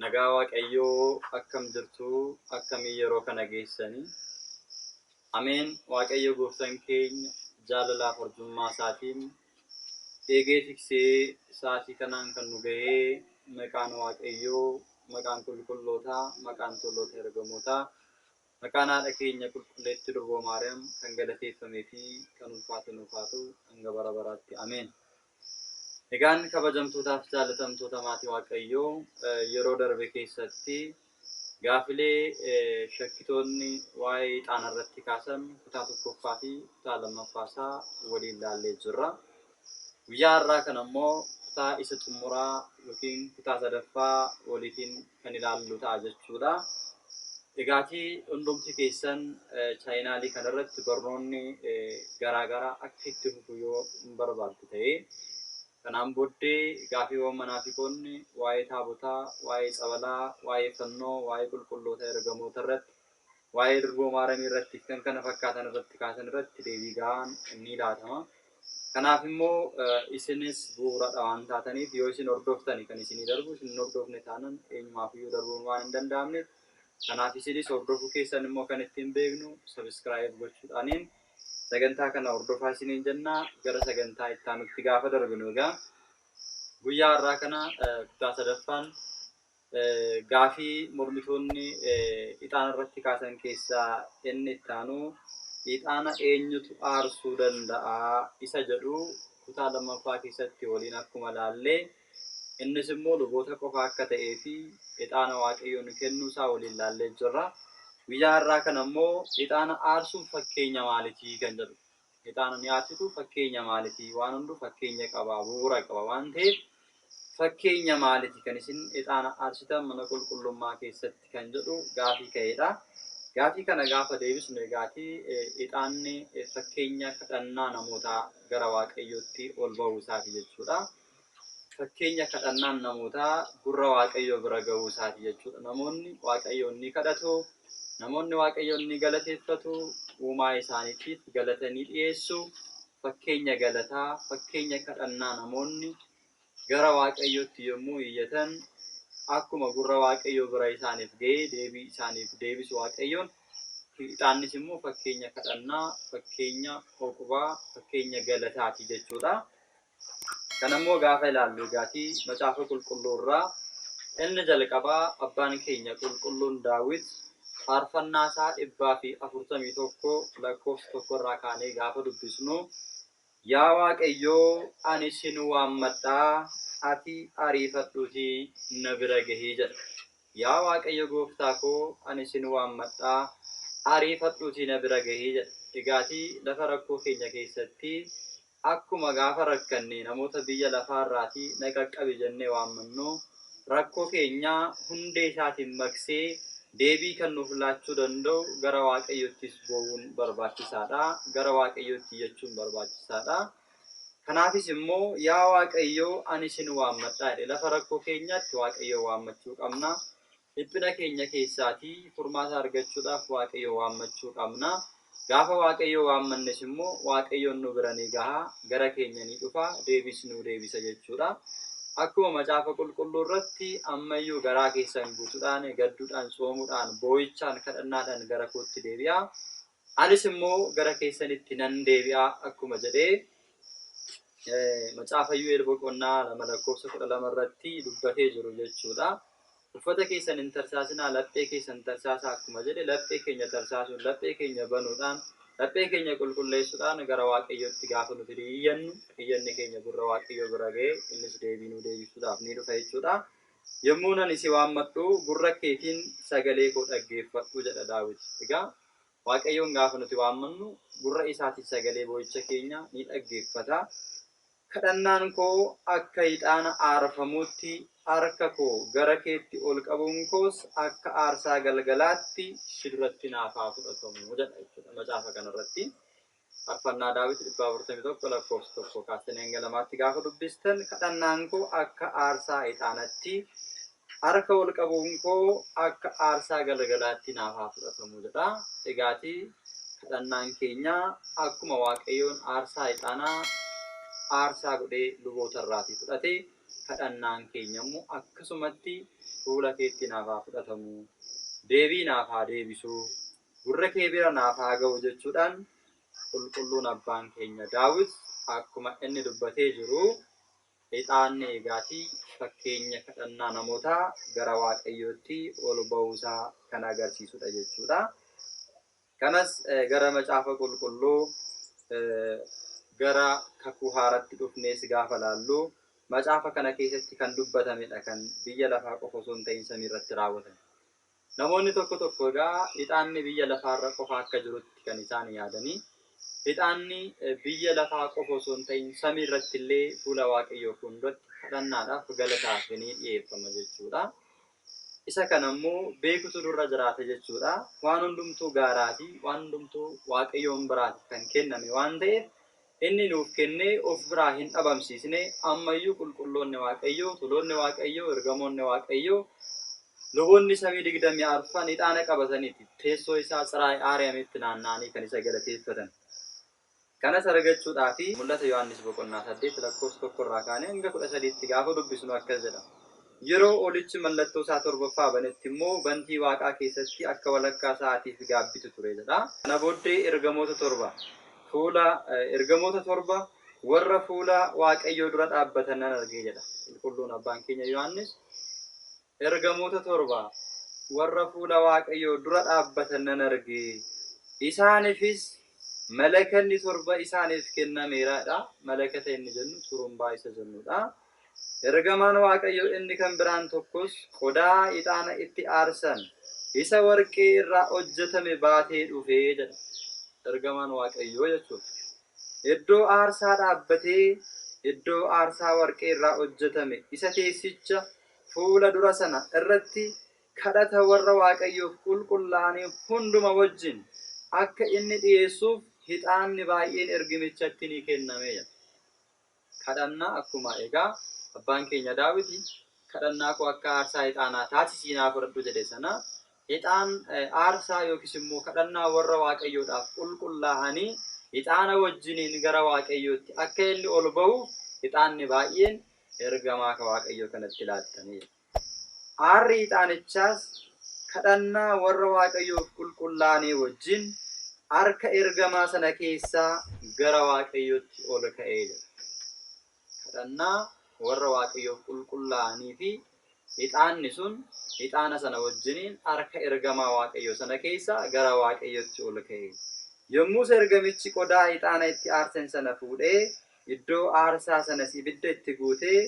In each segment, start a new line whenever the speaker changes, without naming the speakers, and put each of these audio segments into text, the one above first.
Nagaa waaqayyoo akkam jirtuu akkamii yeroo kana geessani Ameen waaqayyo gooftan keenya jaalalaaf arjummaa isaatiin eegee tiksee sa'aatii kanaan kan nu gahee maqaan waaqayyoo maqaan qulqullootaa maqaan toloota ergamootaa Maqaan haadha keenya qulqulleetti durboo maariyaam kan galateeffame fi kan ulfaate nuuf haa ta'u hanga bara baraatti ameen. Egaan kabajamtootaaf jaalatamtoota maatii waaqayyoo yeroo darbe keessatti gaafilee shakkitoonni waa'ee ixaana irratti kaasan kutaa tokkoffaa fi kutaa lammaffaa isaa waliin laallee jirra. Guyyaa har'aa kana immoo kutaa isa xumuraa yookiin kutaa sadaffaa waliitiin kan ilaallu ta'a jechuudha. Egaatii hundumti keessan chaayinaalii kana irratti barnoonni garaagaraa akka itti fufu yoo hin barbaaddu ta'e kanaan booddee gaafiiwwan manaafiqoonni waa'ee taabotaa, waa'ee tsabalaa, waa'ee fannoo, waa'ee qulqulloota ergamoota irratti waa'ee durboo Maaramii irratti fi kan kana fakkaatan irratti kaasan irratti deebii gahaan ni laatama. Kanaaf immoo isinis bu'uuradha waan taataniif yoo isin hordoftani kan isinii darbu isin hin hordofne taanan eenyumaaf iyyuu darbuun waan hin danda'amneef kanaaf isinis hordofuu keessan immoo kan ittiin beeknu sabiskiraayib gochuudhaaniin sagantaa kana hordofaa isiniin jennaa gara sagantaa itti aanutti gaafa darbinu egaa guyyaa har'aa kana kutaa sadaffaan Gaafii mormitoonni ixaana irratti kaasan keessaa inni itti aanu ixaana eenyutu aarsuu danda'a isa jedhu kutaa lammaffaa keessatti waliin akkuma ilaalle innis immoo luboota qofa akka ta'ee fi ixaana waaqayyoon kennuu isaa waliin ilaallee jirra. Guyyaa har'aa kana immoo ixaana aarsuun fakkeenya maalitii kan jedhu. Ixaana ni aarsitu fakkeenya maaliti? Waan hundu fakkeenya qaba, bu'uura qaba waan ta'eef fakkeenya maaliti kan isin ixaana aarsitan mana qulqullummaa keessatti kan jedhu gaafii ka'eedha. Gaafii kana gaafa deebisnu egaati ixaanni fakkeenya kadhannaa namootaa gara waaqayyootti ol ba'uu isaati jechuudha. Fakkeenya kadhannaan namootaa gurra Waaqayyoo bira ga'uu isaati jechuudha. Namoonni Waaqayyoon ni kadhatu, namoonni Waaqayyoon ni galateeffatu, uumaa isaaniitiif galata ni dhiyeessu. Fakkeenya galataa, fakkeenya kadhannaa namoonni gara Waaqayyootti yommuu iyyatan akkuma gurra Waaqayyoo bira isaaniif ga'ee deebii isaaniif deebisu Waaqayyoon Ixaannis immoo fakkeenya kadhannaa, fakkeenya oqubaa, fakkeenya galataati jechuudha. Kana immoo gaafa ilaallu egaati Macaafa Qulqulluu irraa inni jalqabaa abbaan keenya qulqulluun Daawit faarfannaa isaa 141 lakkoofsa tokko irraa kaanee gaafa dubbisnu Yaa Waaqayyoo ani sin waammadhaa ati ariifadhuutii na bira gahii jedha. Yaa Waaqayyo gooftaa koo ani sin waammadhaa ariifadhuutii na bira gahii jedha. Egaati lafa rakkoo keenya keessatti Akkuma gaafa rakkanne namoota biyya lafaarraatii na qaqqabi jennee waammannu, rakkoo keenya hundee isaatiin maqsee deebii kan nuuf laachuu danda'u gara Waaqayyoottis boo'uun barbaachisaa dha, gara Waaqayyootti iyyachuun barbaachisaa dha. Kanaafis immoo yaa Waaqayyo ani sin waammadha jedhe lafa rakkoo keenyaatti Waaqayyoon waammachuu qabna. Dhiphina keenya keessaatii furmaata argachuudhaaf Waaqayyoo waammachuu qabna. Gaafa Waaqayyoo waammannes immoo Waaqayyoon nu bira ni gaha, gara keenya ni dhufa, deebiis nuu deebisa jechuudha. Akkuma macaafa qulqulluu irratti ammayyuu garaa keessan guutuudhaan, gadduudhaan, tsoomuudhaan, boo'ichaan, kadhannaadhaan gara kootti deebi'a. Anis immoo gara keessanitti nan deebi'a akkuma jedhee macaafa Yu'eel boqonnaa lama lakkoofsa kudha lama irratti dubbatee jiru jechuudha. Uffata keessan hin tarsaasinaa, laphee keessan tarsaasaa akkuma jedhe laphee keenya tarsaasuun, laphee keenya banuudhaan, laphee keenya qulqulleessuudhaan gara Waaqayyootti gaafa nuti iyyannu, iyyanni keenya gurra Waaqayyoo bira ga'ee innis deebii nuu deebisuudhaaf ni dhufa jechuudha. Yommuun ani si waammadhu gurra keetiin sagalee koo dhaggeeffadhu jedha Daawit. Egaa Waaqayyoon gaafa nuti waammannu gurra isaatiin sagalee boo'icha keenya ni dhaggeeffata. Kadhannaan koo akka ixaana aarfamuutti, harka koo gara keetti ol qabuun koos akka aarsaa galgalaatti si duratti naaf haa fudhatamu jedha jechuudha macaafa kana irratti. Farfannaa Daawit 401 lakkoofsa 1 kaastanii hanga 2tti gaafa dubbistan kadhannaan koo akka aarsaa ixaanatti Harka wal qabuun koo akka aarsaa galagalaatti naaf haa fudhatamu jedha. Egaatii kadhannaan keenya akkuma Waaqayyoon aarsaa ixaanaa aarsaa godhee luboota irraatii fudhate, kadhannaan keenya immoo akkasumatti fuula keetti naaf haa fudhatamu, deebii naaf haa deebisu, gurra kee bira naaf haa ga'u jechuudhaan qulqulluun abbaan keenya Daawit akkuma inni dubbatee jiru Ixaanni eegaatii fakkeenya kadhannaa namootaa gara Waaqayyootti ol ba'uusaa kan agarsiisudha jechuudha. Kanas gara Macaafa Qulqulluu gara kakuu haaratti dhufnees gaafa laallu macaafa kana keessatti kan dubbatamedha kan biyya lafaa qofa osoo hin ta'in samii irratti raawwatame. Namoonni tokko tokko egaa ixaanni biyya lafaarra qofa akka jirutti kan isaan yaadanii, ixaanni biyya lafaa qofa osoo hin ta'in samiirratti illee fuula Waaqayyoo fuulduratti kadhannaadhaaf, galataaf ni dhi'eeffama jechuu dha. Isa kana immoo beekutu nurra jiraata jechuu dha. Waan hundumtuu gaaraa fi waan hundumtuu Waaqayyoon biraati kan kenname waan ta'eef, Inni nuuf kenne of biraa hin dhabamsiisne, amma iyyuu qulqulloonni Waaqayyoo, tuloonni Waaqayyoo, ergamoonni Waaqayyoo, luboonni samii digdamii arfan ixaana qabataniiti teessoo isaa Tsiraayi Aariyamitti naanna'anii kan isa galateeffatan. Kanas argachuudhaafi. Mul'ata Yohaannis boqonnaa 8 lakkoofsa 1 irraa kaanee hanga 13tti gaafa dubbisnu akkas jedha, Yeroo olichi mallattoo isaa torbaffaa banetti immoo bantii waaqaa keessatti akka walakkaa sa'aatiif gaabbitu ture jedha. Kana booddee ergamoota torba fuula ergamoota torba warra fuula Waaqayyoo dura dhaabbatan nan arge jedha qulqulluun abbaan keenya Yohaannis. Ergamoota torba warra fuula Waaqayyoo dura dhaabbatan nan arge. Isaanifis malakanni torba isaaniif kennameera jedha. Malakata inni jennu xurumbaa isa jennudha. Ergamaan Waaqayyo inni kan biraan tokkos qodaa ixaana itti aarsan isa warqee irraa hojjetame baatee dhufe jedha. Ergamaan Waaqayyoo jechuun iddoo aarsaa dhaabbatee iddoo aarsaa warqee irraa hojjetame isa teessicha fuula dura sana irratti kadhata warra Waaqayyoof qulqullaa'anii hunduma wajjin akka inni dhiyeessuuf hixaanni baay'een ergimichatti ni kenname jedha. Kadhannaa Akkuma egaa abbaan keenya Daawiti, Kadhannaa koo akka aarsaa hixaanaa taasisii naa fudhadhu jedhe sana, hixaan, aarsaa yookiis immoo kadhannaa warra Waaqayyoodhaaf qulqullaa'anii hixaana wajjiniin gara Waaqayyootti akka inni ol ba'uuf hixaanni baay'een ergamaa ka Waaqayyoo kanatti laattamee jira. Aarri ixaanichaas kadhannaa warra Waaqayyoof qulqullaa'anii wajjin harka ergamaa sana keessaa gara Waaqayyootti ol ka'e jedha. Kadhannaa warra Waaqayyoof qulqullaa'anii fi ixaanni sun ixaana sana wajjiniin harka ergamaa Waaqayyoo sana keessaa gara Waaqayyootti ol ka'e. Yommus ergamichi qodaa ixaana itti aarsan sana fuudhee iddoo aarsaa sanas ibidda itti guutee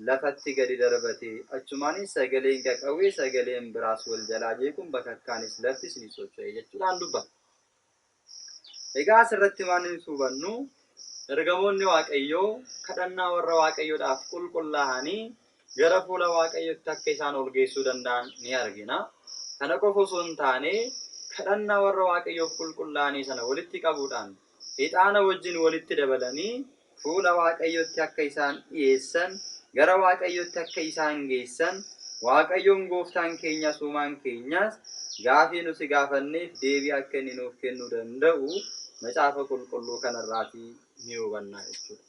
lafatti gadi darbate. Achumaanis sagaleen qaqawwee sagaleen biraas wal jalaa jeequun bakakkaanis laftis ni socho'e jechuudhaan dubbata. Egaa asirratti waan nuti hubannu ergamoonni Waaqayyoo kadhannaa warra Waaqayyoodhaaf qulqullaa'anii gara fuula Waaqayyootti akka isaan ol geessuu danda'an ni argina. Kana qofa osoo hin taane kadhannaa warra Waaqayyoof qulqullaa'anii sana walitti qabuudhaan ixaana wajjin walitti dabalanii fuula Waaqayyootti akka isaan dhi'eessan, gara Waaqayyootti akka isaan geessan, Waaqayyoon Gooftaan keenyas Uumaan keenyas gaafii nuti gaafanneef deebii akka inni nuuf kennuu danda'u Macaafa Qulqulluu kanarraatii ni hubanna jechuudha.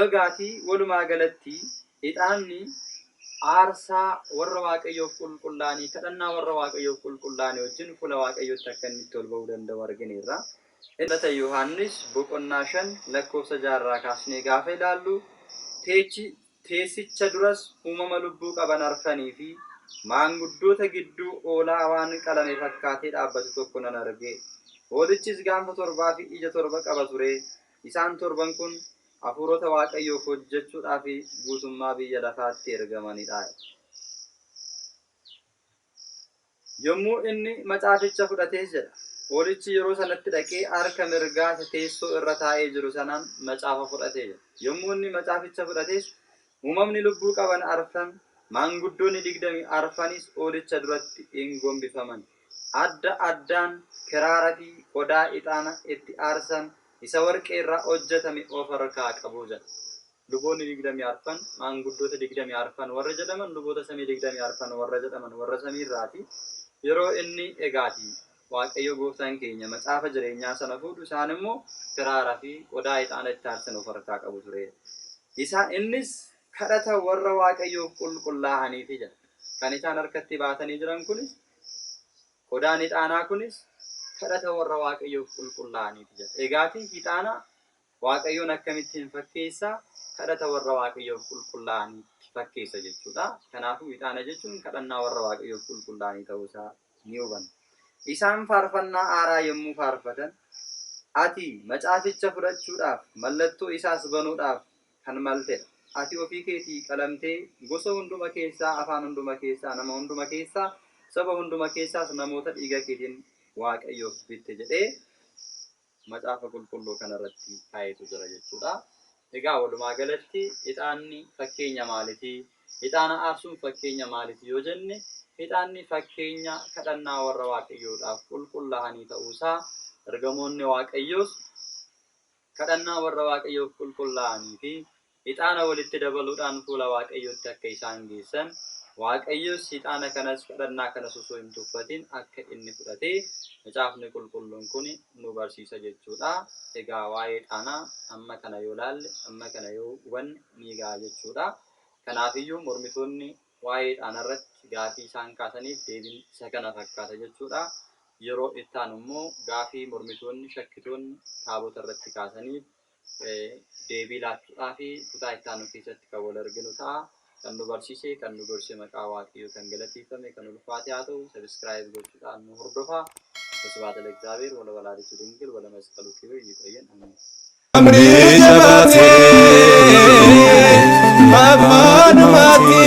Eegaatii walumaa galatti ixaanni aarsaa warra Waaqayyoof qulqullaa'anii kadhannaa warra Waaqayyoof qulqullaa'anii wajjin fuula Waaqayyootti akka inni itti ol ba'uu danda'u argineerra. Mul'ata Yohaannis boqonnaa 5 lakkoofsa 6 irraa kaasnee gaafa ilaallu teechi teessicha duras uumama lubbuu qaban arfanii fi maanguddoota gidduu hoolaa waan qalame fakkaatee dhaabbatu tokko nan arge. Hoolichis gaanfa torbaa fi ija torba qaba ture, Isaan torban kun hafuurota Waaqayyoof hojjechuudhaaf guutummaa biyya lafaatti ergamani dha. Yommuu inni macaaficha fudhatees jedha, Hoolichi yeroo sanatti dhaqee harka mirgaa isa teessoo irra taa'ee jiru sanaan macaafa fudhate jedha. Yommuu inni macaaficha fudhatees Uumamni lubbuu qaban arfan, maanguddoonni digdami arfanis Hoolicha duratti in gombifaman, adda addaan kiraara fi qodaa ixaana itti aarsan isa warqee irraa hojjetame of harkaa qabu jedha. Luboonni digdami arfan, maanguddoota digdami arfan warra jedhaman luboota samii digdami arfan warra jedhaman warra samii irraati, yeroo inni egaatii. Waaqayyo gooftaan keenya macaafa jireenyaa sana fuudhu isaan immoo kiraara fi qodaa ixaana itti aarsan of harkaa qabu ture. Isa innis kadhata warra Waaqayyoof qulqullaa'aniifi jedha. Kan isaan harkatti baatanii jiran kunis qodaan ixaanaa kunis kadhata warra Waaqayyoof qulqullaa'aniifi jedha. Egaati ixaana Waaqayyoon akkamittiin fakkeessa? Kadhata warra Waaqayyoof qulqullaa'aniitti fakkeessa jechuudha. Kanaafuu ixaana jechuun kadhannaa warra Waaqayyoof qulqullaa'anii ta'uu isaa ni hubanna. Isaan faarfannaa haaraa yommuu faarfatan, ati macaaficha fudhachuudhaaf, mallattoo isaas banuudhaaf kan malte dha. Ati ofii keetii qalamtee, gosa hunduma keessaa, afaan hunduma keessaa, nama hunduma keessaa, saba hunduma keessaas namoota dhiiga keetiin Waaqayyoof bitte jedhee Macaafa Qulqulluu kana irratti kaayetu jira jechuudha. Egaa walumaa galatti ixaanni fakkeenya maaliti? Ixaana aarsuun fakkeenya maaliti yoo jenne ixaanni fakkeenya kadhannaa warra Waaqayyoodhaaf qulqullaa'anii ta'uu isaa ergamoonni Waaqayyoos kadhannaa warra Waaqayyoof qulqullaa'anii fi ixaana walitti dabaluudhaan fuula Waaqayyootti akka isaan geessan, Waaqayyos ixaana kanas kadhannaa kanas osoo hin tuffatin akka inni fudhate macaafni qulqulluun kun nu barsiisa jechuudha. Egaa waa'ee ixaana amma kana yoo laalle amma kana yoo hubanne ni ga'a jechuudha. Kanaafiyyuu mormitoonni waa'ee ixaana irratti gaafii isaan kaasaniif deebiin isa kana fakkaata jechuudha. Yeroo itti aanu immoo gaafii mormitoonni shakkitoonni taabota irratti kaasaniif deebii laachuudhaafi kutaa itti aanu keessatti kan wal arginu ta'a. Kan nu barsiise, kan nu gorse maqaa Waaqayyoo kan galateeffame, kan ulfaate haa ta'u. Subscribe gochuudhaan nu hordofaa. Wasbaata Lexaabeer wala walaalitu dingil wala masqalu kibiir yiqoyyen amiin. Amrii
jabaate abbaanumaati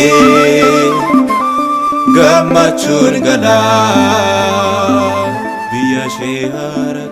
gammachuun galaa biyya ishee haaratti.